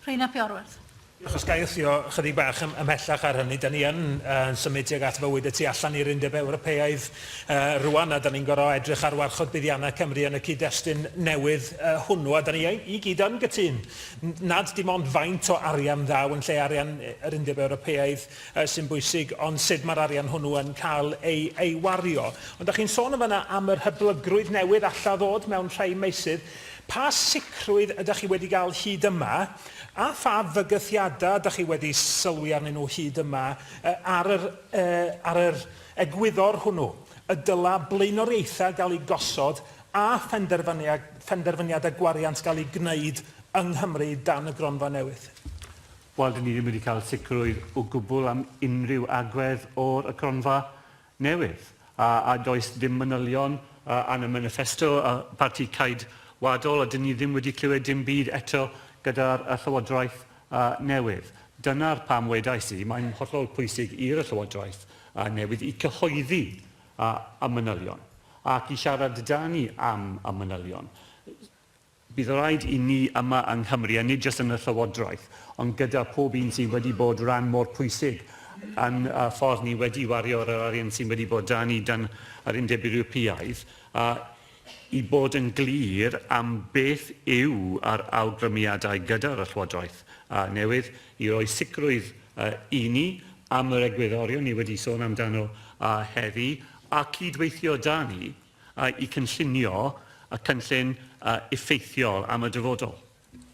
Rhun ap Iorwerth. Ac os ga i wthio ychydig bach ymhellach ar hynny, da ni yn symud tuag at fywyd y tu allan i'r Undeb Ewropeaidd rwan, a da ni'n gorfod edrych ar warchod buddiannau Cymru yn y cyd-destun newydd hwnnw, a da ni i gyd yn gytûn nad dim ond faint o arian ddaw yn lle arian yr Undeb Ewropeaidd sy'n bwysig, ond sut mae'r arian hwnnw yn cael ei wario. Ond da chi'n sôn yn fan'na am yr hyblygrwydd newydd alla ddod mewn rhai meysydd. Pa sicrwydd ydych chi wedi gael hyd yma, a pha fygythiadau ydych chi wedi sylwi arnyn nhw hyd yma ar yr ar yr egwyddor hwnnw y dyla blaenoriaethau gael eu gosod a phenderfyniadau gwariant gael eu gwneud yng Nghymru dan y gronfa newydd? Wel, 'dyn ni ddim wedi cael sicrwydd o gwbl am unrhyw agwedd o'r y cronfa. newydd, a a does dim manylion yn y maniffesto y Parti Ceidwadol, a dyn ni ddim wedi clywed dim byd eto gyda'r y Llywodraeth newydd. Dyna'r pam wedais i, mae'n hollol pwysig i'r y Llywodraeth newydd i cyhoeddi y manylion ac i siarad 'da ni am y manylion. Bydd raid i ni yma yng Nghymru, a nid jyst yn y Llywodraeth, ond gyda phob un sydd wedi bod ran mor pwysig yn y ffordd ni wedi wario yr arian sydd wedi bod 'da ni dan yr Undeb Ewropeaidd, i bod yn glir am beth yw yr awgrymiadau gyda'r Llywodraeth newydd, i roi sicrwydd i ni am yr egwyddorion ni wedi sôn amdano heddi, a cyd-weithio 'da ni. a'u cynllunio a chynllun effeithiol am y dyfodol.